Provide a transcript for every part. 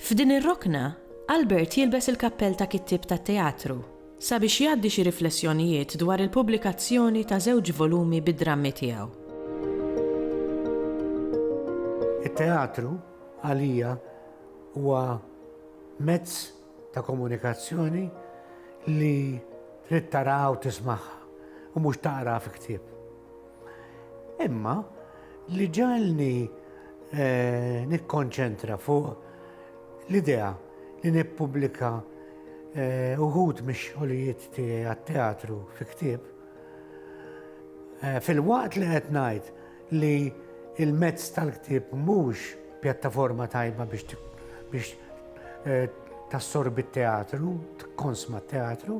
F'din ir-rokna, Albert jilbes il-kappell ta' kittieb tat-teatru sabiex jgħaddi xi riflessjonijiet dwar il-pubblikazzjoni ta' żewġ volumi bid-drammi tiegħu. It-teatru, għalija, huwa mezz ta' komunikazzjoni li trid taraha u tismagħha, u mhux taqraha fi ktieb. Imma li ġalni eh, nikkonċentra fuq l-idea li nippubblika eh, uħud mix-xogħlijiet tiegħi għat-teatru fi ktieb Eh, fil-waqt li qed ngħid li il-mezz tal-ktieb mhux pjattaforma tajba biex biex eh, tassorbi t-teatru, tkonsma t-teatru,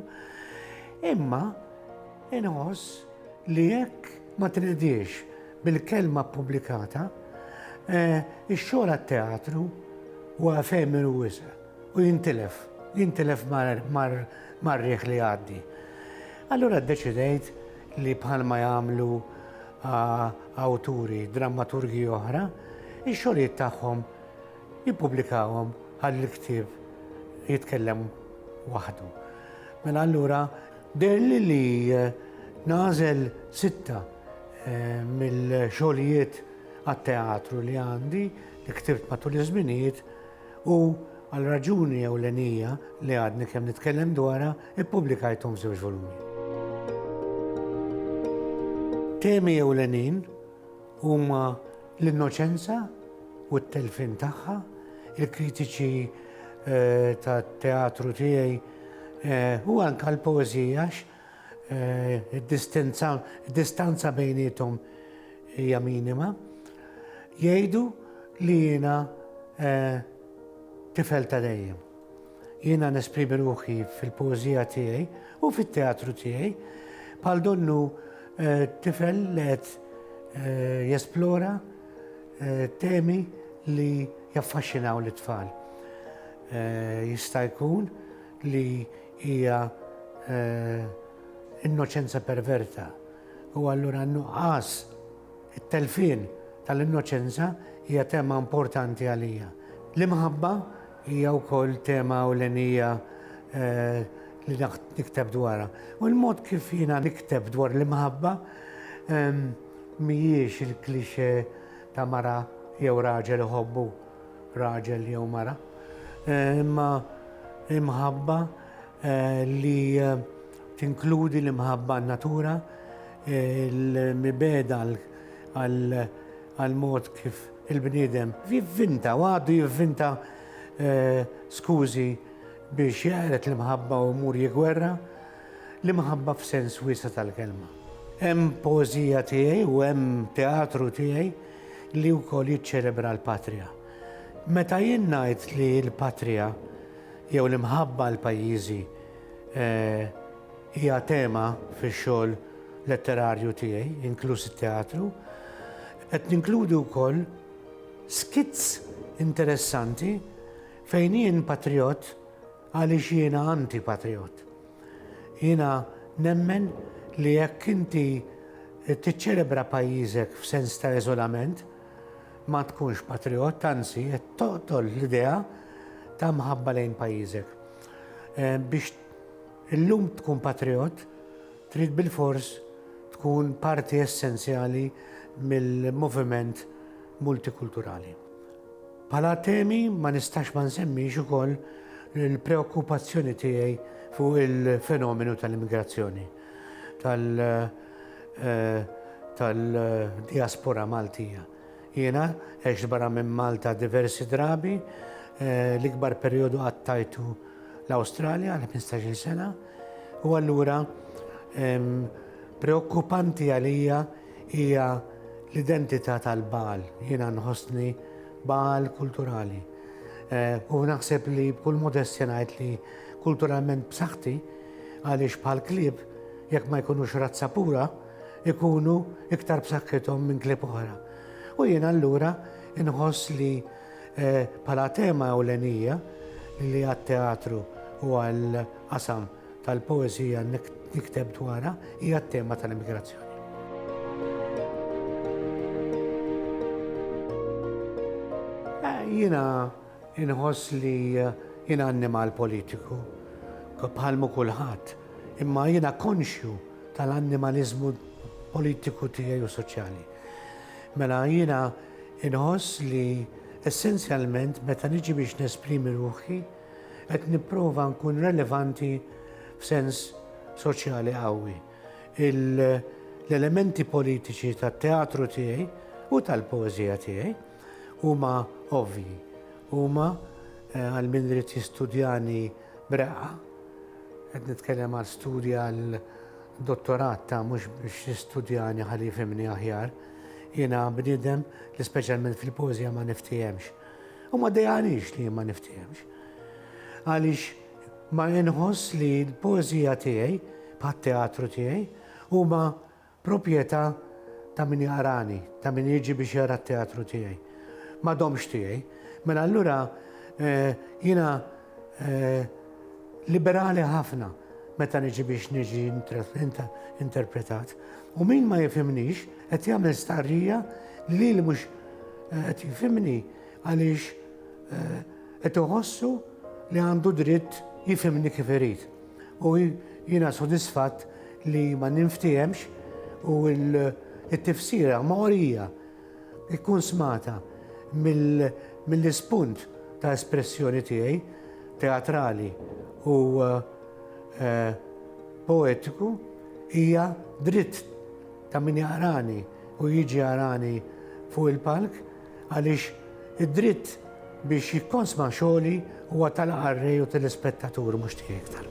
imma Inħoss li jekk ma tnediex bil-kelma ppubblikata, ix-xogħol għat-teatru huwa efemeru wisq u jintilef, jintilef mar-riħ li jgħaddi. Allura ddeċidejt li bħalma jagħmlu awturi, drammaturgi oħra, ix-xogħlijiet tagħhom jippubblikahom ħalli l-ktieb jitkellem waħdu. Mela allura Deherli li nagħżel sitta mill-xogħlijiet għat-teatru li għandi, li ktibt matul iż-żminijiet u għal raġuni ewlenija li għadni kemm nitkellem dwarha, ippubblikajthom f'żewġ volumi. Temi ewlenin Huma l-innoċenza u t-telfien tagħha, il-kritiċi eh, tat-teatru tiegħi eh, u anke l-poeżija eh, id-distanza bejnietom hija minima. Jgħidu li jiena tifel ta' dejjem. Jiena nesprimi ruħi fil-poeżija tiegħi u fit-teatru tiegħi bħal donnu eh, tifel li qed eh, jesplora eh, temi li jaffaxxinaw l tfal Jista' jkun li hija innoċenza perverta u allura nuqqas it-telfin tal-innoċenza hija tema importanti għalija. L-imħabba Hija wkoll tema ewlenija li nikteb dwarha. U l-mod kif jiena nikteb dwar l-imħabba mhijiex il-cliché ta' mara jew raġel iħobbu raġel jew mara, imma imħabba li tinkludi l-imħabba għan-natura, il-mibegħda għal għall-mod kif il-bniedem jivvinta u għadu jivvinta skużi biex jeqred l-imħabba u jmur jiggwerra l-imħabba f'sens wiesa' tal-kelma. Hemm poeżija tiegħi u hemm teatru tiegħi li wkoll jiċċelebra l-patrija. Meta jien ngħid li l-patrija jew l-imħabba għal pajjiżi Hija tema fix-xogħol letterarju tiegħi, inkluż it-teatru. Qed ninkludi wkoll skits interessanti fejn jien patrijott għaliex jiena anti-patrijott. Jiena nemmen li jekk inti tiċċelebra pajjiżek f'sens ta' eżolament, ma tkunx patrijott, anzi qed toqtol l-idea ta' mħabba lejn pajjiżek. Eh, biex illum tkun patriot, trid bil-fors tkun parti essenzjali mill-moviment multikulturali. Pala temi ma nistax ma nsemmix ukoll il-preokkupazzjoni tiegħi fuq il-fenomenu tal-immigrazzjoni tal-diaspora eh, Maltija. Jiena għext barra minn Malta diversi drabi, l-ikbar perjodu qattajtu l-Awstralja għal ħmistax-il sena, u allura preokkupanti għalija hija l-identità tal-Baal. Jiena nħossni Baal kulturali. U naħseb li b'kull modestja ngħid li kulturalment b'saħħti għaliex bħall-klieb jekk ma jkunux razza pura, ikunu iktar b'saħħithom minn klieb oħra. U jien allura inħoss li eh, bħala tema ewlenija li għat-teatru u għal-qasam tal-poezija nikteb dwarha hija t-tema tal-immigrazzjoni. Eh, jiena Inħoss li jien annimal politiku, bħal mu kulħadd, imma jiena konxju tal-annimaliżmu politiku tiegħi u soċjali. Mela jiena inħoss li essenzjalment meta niġi biex nesprimi ruħi qed nipprova nkun relevanti f'sens soċjali qawwi. L-elementi politiċi tat-teatru tiegħi u tal-poeżija tiegħi huma ovvji. Huma eh, għal min irid jistudjani breqqa, qed nitkellem għal studja għal dottorat ta' mhux biex jistudjani ħalli jifhimni aħjar. Jiena bniedem li speċjalment fil-pożja ma niftihemx. U ma dejjanix li ma niftihemx. Għaliex ma inħoss li l-pożija tiegħi, bħat-teatru tiegħi, huma Proprjetà ta' min jaqrani, ta' min jiġi biex jara t-teatru tiegħi. Ma domx tiegħi. Mela allura jiena liberali ħafna meta niġi biex niġi interpretat. U min ma jifhimnix qed jagħmel stqarrija li lili mhux qed jifhimni għaliex qed iħossu li għandu dritt jifhimni kif irid. U jiena sodisfatt li ma ninftehemx u t-tifsira mogħrija tkun smagħta mill-ispunt ta' espressjoni tiegħi teatrali u poetiku hija dritt ta' min jaqrani u jiġi jarani fuq il-palk. għaliex id-dritt biex jikkonsma xogħli huwa tal-qarrej u telespettatur mhux tiegħi iktar.